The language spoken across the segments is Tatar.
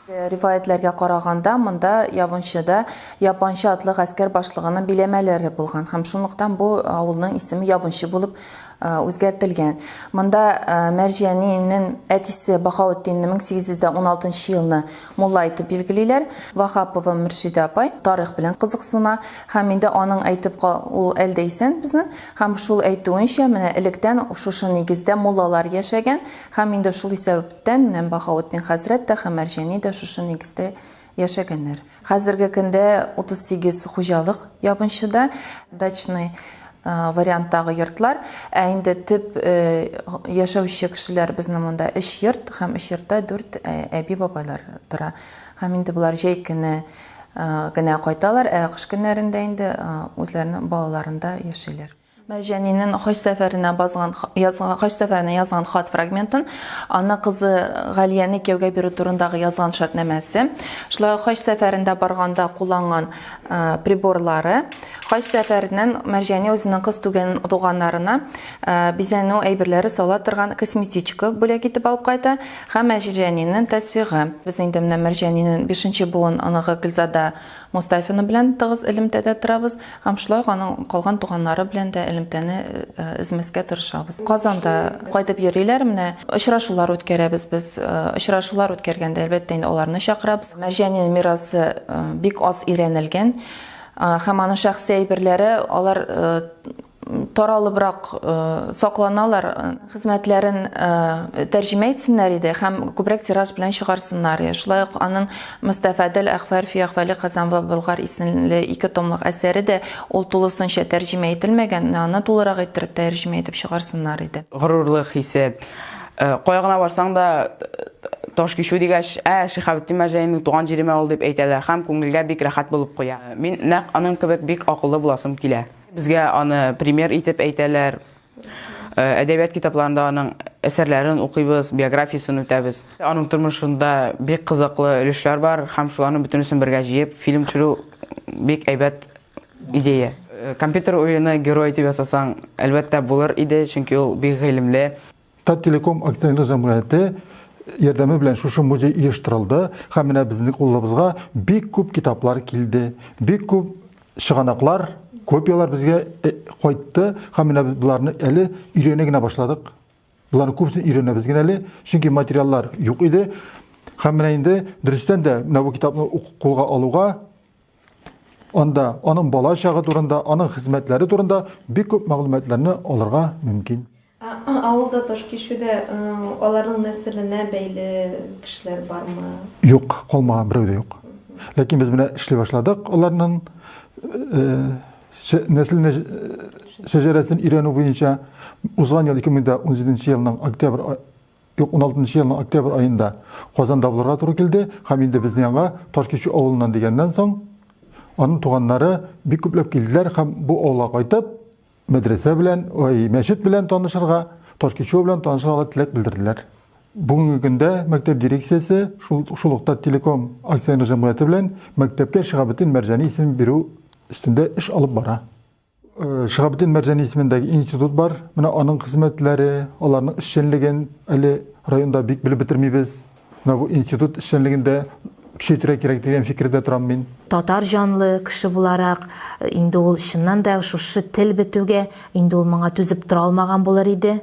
Риваятьләргә караганда, монда Ябынчыда Япанчы атлы гаскәр башлыгының биләмәләре булган һәм шунлыктан бу авылның исеме Ябынчы булып үзгәртелгән. Монда Мәрҗиянинен әтисе Баһаутдинне 1816 елны мулла итеп билгелиләр. Ваһапова Мөршидә апай тарих белән кызыксына һәм инде аның әйтеп ул әлдә исән безнең Һәм шул әйтүенчә, менә электән шушы нигездә муллалар яшәгән, һәм инде шул исәбәптән менә Баһаветдин хәзрәт тә һәм Мәрҗани дә шушы нигездә яшәгәннәр. Хәзерге көндә 38 хуҗалык ябынчыда, дачный варианттагы йортлар, ә инде төп яшәүче кешеләр безнең монда өч йорт, һәм өч йортта дүрт әби-бабайлар тора. Һәм инде болар җәй көне Генә кайталар, ә кыш көннәрендә инде үзләренең балаларында яшиләр. Мәрҗәнинен хаҗ сәфәренә базган язган хаҗ сәфәренә язган хат фрагментын, аны кызы Галияне кияүгә бирү турындагы язган шартнамәсе, шулай ук хаҗ сәфәрендә барганда кулланган приборлары, хаҗ сәфәреннән Мәрҗәни үзенең кыз түгән туганнарына бизәнү әйберләре сала торган косметичка бүләк итеп алып кайта. Һәм Мәҗиҗәнинен тәсвигы. Без инде менә Мәрҗәнинен бишенче буын оныгы Гөлзада Мостафина белән тыгыз элемтәдә торабыз һәм шулай ук аның калган туганнары белән дә элемтәне өзмәскә тырышабыз. Казанда кайтып йөриләр, менә очрашулар үткәрәбез без. Очрашулар үткәргәндә, әлбәттә инде, аларны чакырабыз. Мәрҗәнинен мирасы бик аз өйрәнелгән һәм аның шәхси әйберләре, алар таралыбрак сакланалар, хезмәтләрен тәрҗемә итсеннәр иде һәм күбрәк тираж белән чыгарсыннар иде. Шулай ук аның Мостафәд әл-Әхвәр фи әхвали Хазан ва Болгар исемле ике томлык әсәре дә, ул тулысынча тәрҗемә ителмәгән, менә аны тулырак иттереп тәрҗемә итеп чыгарсыннар иде. Горурлык хисе. Кая гына барсаң да, таш кичү дигәч, ә, Шиһабетдин Мәрҗәниның туган җиреме ул дип әйтәләр һәм күңелгә бик рәхәт булып куя. Мин нәкъ аның кебек бик акыллы буласым килә. Безгә аны пример итеп әйтәләр. Э, әдәбият китапларында аның әсәрләрен укыйбыз, биографиясен үтәбез. Аның тормышында бик кызыклы өлешләр бар һәм шуларны бөтенесен бергә җыеп фильм төшерү бик әйбәт идея. Э, компьютер уены герой дип ясасаң, әлбәттә булыр иде, чөнки ул бик гыйлемле. Таттелеком акционерлы җәмгыяте ярдәме белән шушы музей оештырылды һәм менә безнең кулыбызга бик күп китаплар килде, бик күп чыганаклар, копиялар безгә э, кайтты һәм менә без боларны әле өйрәнә генә башладык. Боларны күбесен өйрәнәбез генә әле, чөнки материаллар юк иде. Һәм менә инде дөрестән дә менә бу китапны кулга алуга Анда аның бала чагы турында, аның хезмәтләре турында бик күп мәгълүматларны алырга мөмкин. Авылда таш кишүдә аларның нәселенә бәйле кешеләр бармы? Юк, калмаган берәү дә юк. Ләкин без менә эшли башладык аларның нәселенә шәҗәрәсен өйрәнү буенча. Узган ел 2017 елның октябрь 2016 елның октябрь аенда Казанда булырга туры килде һәм инде безне аңа Ташкичү авылыннан дигәннән соң аның туганнары бик күпләп килделәр һәм бу авылга кайтып мәдрәсә белән, ой, мәчет белән танышырга, Ташкичү белән танышырга теләк белдерделәр. Бүгенге көндә мәктәп дирекциясе шул шул ук Телеком акционер җәмгыяте белән мәктәпкә Шиһабетдин Мәрҗани исемен бирү өстендә эш алып бара. Шиһабетдин Мәрҗани исемендәге институт бар. Менә аның хезмәтләре, аларның эшчәнлеген әле районда бик белеп бетермибез. Менә бу институт эшчәнлеген дә көчәйтергә кирәк дигән фикердә торам мин. Татар җанлы кеше буларак, инде ул чыннан да шушы тел бетүгә инде ул моңа түзеп тора алмаган булыр иде,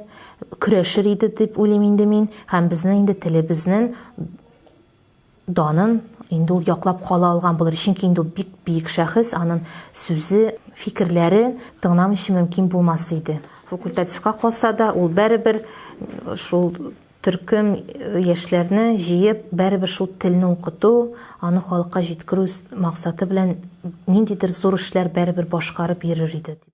көрәшер иде дип уйлыйм инде мин. Һәм безнең инде телебезнен. данын инде ул яклап кала алган булыр, чөнки инде ул бик биек шәхес, анын сүзе, фикерләрен тыңламыйча мөмкин булмас иде. Факультативка калса да, ул бәребер шул төркем яшьләрне җыеп, бәребер шул телне укыту, аны халыкка җиткерү максаты белән ниндидер зур эшләр бәребер башкарып йөрер иде, дип.